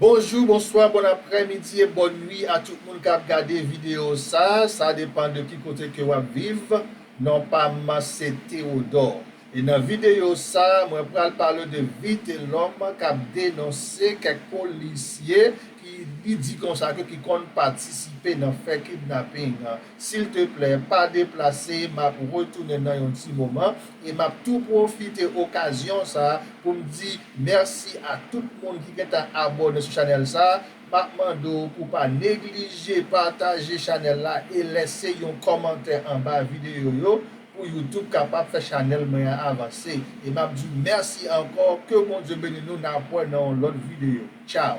Bonjou, bonswa, bòn aprè midi e bòn nwi a tout moun kap gade video sa, sa depan de ki kote ke wap viv, non pam se Theodore e nan video sa mwen pral pale de Vitelom kap denonse kèk polisye ki li di konsa ke ki konn patisipe nan fè kidnapping, silteplè pa deplase map retounen nan yon ti moman e map tou pwofite okazyon sa poum di Merci a tout moun ki gentan abone sou chanel sa, map mande w pou pa neglije pataje chanel la e lèse yon kòmantè anba video yo pou youtube kapab fè chanel mwen an avanse e map diw merci ankò ke Bondye beni nou napwè nan yon lòt video ciao.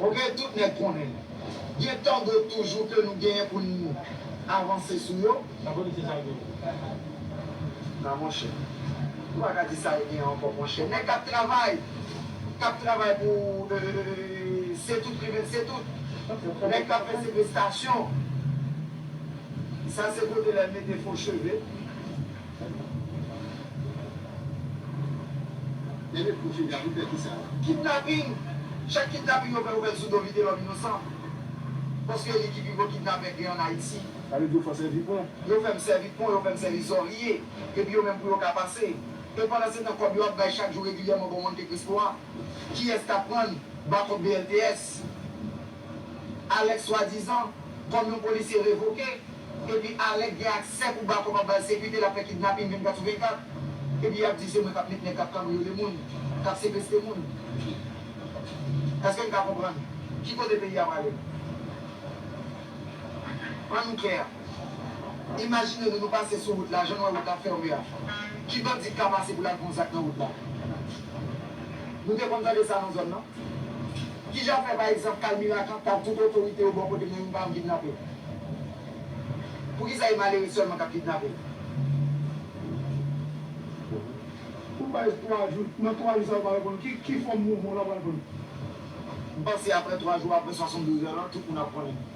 Ok tout nèg konnen. Gen tango toujou ke nou genyen pou n avanse sou yo. Sa vle di se sa yo genyen. Nan monchè. Ou pa ka di sa yo genyen ankò monchè. Nèg kap travay, kap travay pou se tout rive n se tout. Nèg kap fè sekestasyon. Sa se kote lè mete fo cheve. Kidnaping, chak kidnaping yo fè yo met sou do vitelòm inosan paske li ki pi gwo kidnapè gen an Ayiti. Sa vle di yo fè w sèvi pon. Yo fè m sèvi pon, yo fè m sèvi zòrye epi yo menm pou yo ka pase. E pandansetan kòb yo ap bay chak jou regilyèman bò Monte Cristo a, kiyès k ap pran n? Bakòp BLTS. Alek swadizan kom yon polisye revoke epi Alek gen aksè pou Bako pa bal sekirite lap fè kidnapin 24 sou 24 epi yap di se mwen kap met nèg kap kanbriyole moun kap sekeste moun eske'n ka konprann ki kote peyi a prale an nou klè. Imajine nou nou pase sou wout la jan nou wè wout la fème a ki bandi k ka pase pou l al pran yon zak nan wout la? Nou te konn tande sa nan zòn nan? Ki jan fè pa egzanp kay Miracan tag tout otorite yo bò kote m nan youn pa janm kidnape? Poukisa e malere sèlman k ap kidnape? Ou bay 3 jou, nan 3 jou sa yo pa reponn ki ki fòm mouvman w la pral pran? M panse aprè 3 jou apre 72 è lan tout moun ap konnen.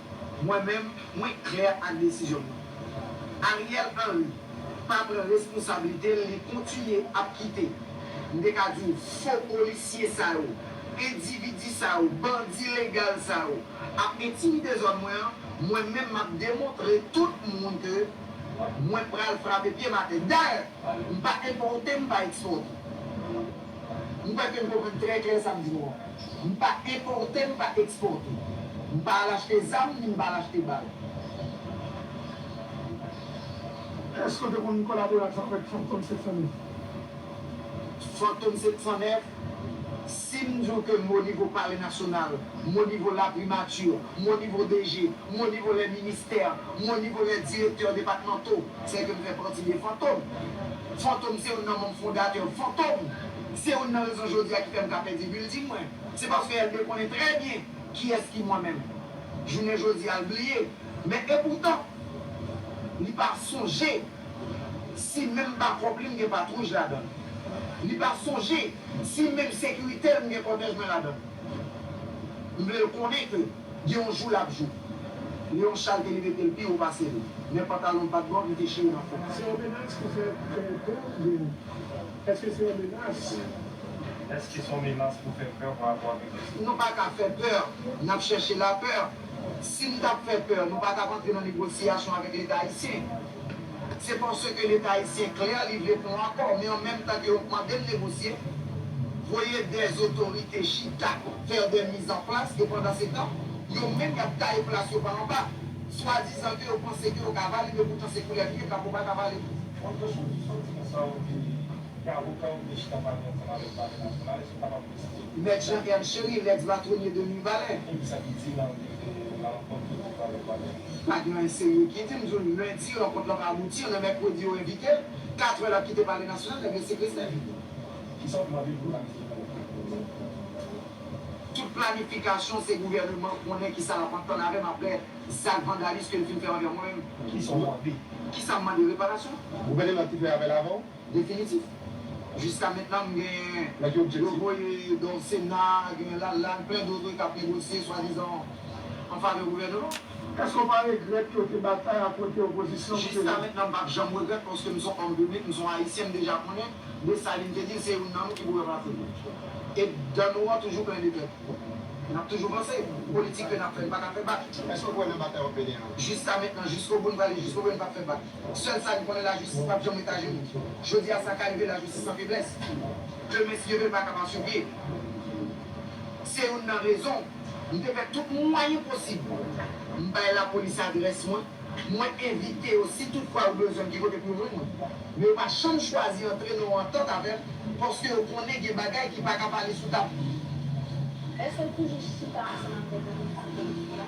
Mwen menm, mwen klè ak desizyon mwen. Ariel Henry pa pran responsabilite l li kontinye ap kite, m te ka di w fo polisye sa yo, endividi sa yo, bandi legal sa yo ap entimide zòn mwen an, mwen menm m ap demontre tout moun ke mwen pral frape pye m atè. Dayè, m pa enpòte m pa ekspòte. M kwè ke m konprann trè klè sa m di nou an. M pa enpòte, m pa ekspòte. M pa al achte zam, ni m pa al achte bal. Èske w te konn kolabore ak avèk Fantom 709? Fantom 709, si m di w ke m o nivo Palè Nasyonal, m o nivo La Primature, m o nivo DG, m o nivo les ministères, m o nivo les directeurs départementaux, Sèke m fè pati de Fantom. Fantom se youn nan manm fondatè Fantom. Se youn nan rezon jodi a ki fè m ka pèdi building mwen. Se paske Elbe konnen trè byen kiyès ki mwen menm. Jounen jodi a l bliye. Men epoutan, li pa sonje si menm bakòp li m gen patwouj ladan l. Li pa sonje si menm sekirite l m gen kòtèj mwen ladan l. M vle l konnen ke. Gen yon jou lap jou. Leon Charles te rive tel pi wo pasel. Men pantalonl pat bon li te chire nan fon. Se yon menas ki fè pè w pè oubyen eske se yon menas? Eske son menas pou fè pè pa rapò avèk Jezi? Nou pa ka fè pè, nap chèche lapè. Si nou tap fè pè, nou pa tap antre nan negosyasyon avèk leta ayisyen. Se paske leta ayisyen klè, li vle pran yon akò, men an menm tan ke yo mande l negosye, voye dè zotorite chita, fè dè mizanplas, e pandan se tan, yo menm y ap taye plas yo pa anba, swadizan ke yo panse ke yo ka vale, men poutan se koulèv li ye, krapo pa ka vale. Bon Jojo, ki sòti nan sa ou te li, ki avoka ou te chita pale ansanm avèk pale nasyonal, èske ou kapab presize pou nou? Mèt Jean Ernst Chéry, lèks batonye de Mibalè. Epi sa ki di nan liv Lalankwont ke ou te fè avèk Wagner? Pa gen anyen serye ki di, m di w lendi rankont lan pa abouti, an an mèkredi yo envite l, katrè l ap kite palè nasyonal, nèg yo sekestre l. Kisa w mande pou planifye pou okap pou nou menm? Tout planifikasyon se gouvèneman konnen kisa lap antann avè m aprè zak vandalis ke l fin fè anvè mwen menm. Kisa w mande? Kisa m mande? Reparasyon? Gouvèneman ki fè avè l avè w? Definitif. Jiska mentnan m gen yo voye don sena, gen Lalane, plen doto kap negosye swadizan an favè gouvèneman. Eske w pa regrèt ke w te batay a kote opozisyon pou te vin. Jiska mentnan m pap janm regrèt paske m son òm piblik, m son Ayisyen, m deja konnen Dessalines te di l se youn nan nou ki pou ranplase l. E dan nou an toujou plen de tèt. Nap toujou vanse. Politik ke nap fè n paka fè bak. Eske w kwè nan batay wap mennen an? Jiska mentnan, jiskobou n prale jiskobou e n pap fè bak. Sèl sa li konnen lajistis pap janm ret ajenou. Jodi a sa ka rive lajistis san feblès. Demen si Dye vle l pa ka pa sou pye. Se youn nan rezon m te fè tout mwayen posib. M bay lapolis adrès mwen, mwen envite yo si tout fwa yo bezwen m ki kote pou yo jwenn mwen. Men yo pa janm chwazi antre nan yon antant avè m paske yo konnen gen bagay ki pa ka pale sou tab. Èske l toujou chita ansanm avèk Anita Pendo?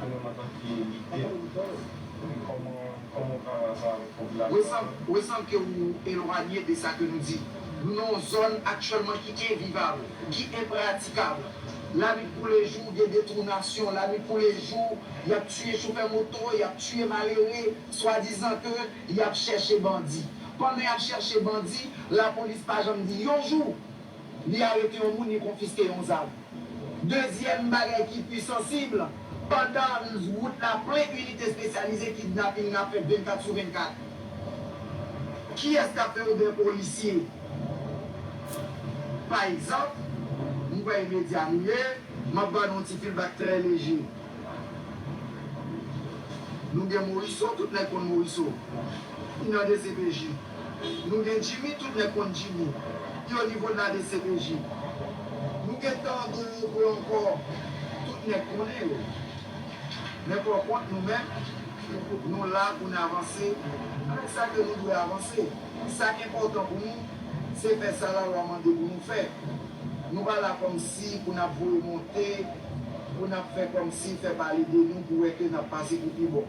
Koman map abiye lidè m koman koman pral avan avèk popilasyon an. Wesam wesam ke ou elwanye de sa ke nou di. Nou nan yon zòn aktyèlman ki envivab, ki enpratikab. Lanwit kou lejou gen detounasyon, lanwit kou lejou yap tiye chofè moto, yap tiye malere, swadizan ke yap chèche bandi. Pandan yap chèche bandi, lapolis pa janm di yon jou. Li arete yon moun, li konfiske yon zam. Dezyèm bagay ki pi sansib, pandan wout la plen inite espesyalize kidnaping nan ap fèt 24 sou 24. Kiyès k ap fè oubyen polisye pa egzanp, m kwè e medya nou ye, m ap ba nou yon ti feedback trè leje. Nou gen Morisseau, tout nèg konn Morisseau. Li nan dcpj. Nou gen Jimmy tout nèg konn Jimmy pi o nivo de la dcpj Nou gen Tango Robo ankò tout nèg konnen yo Men pò kont nou menm nou la pou n avanse avèk sa ke nou dwe avanse Sa k enpòtan pou nou se fè sa lalwa mande pou nou fè Nou pa la kòmsi pou n ap voye monte pou n ap fè kòmsi fè pale de nou pou wè ke n ap pase pou pi bon.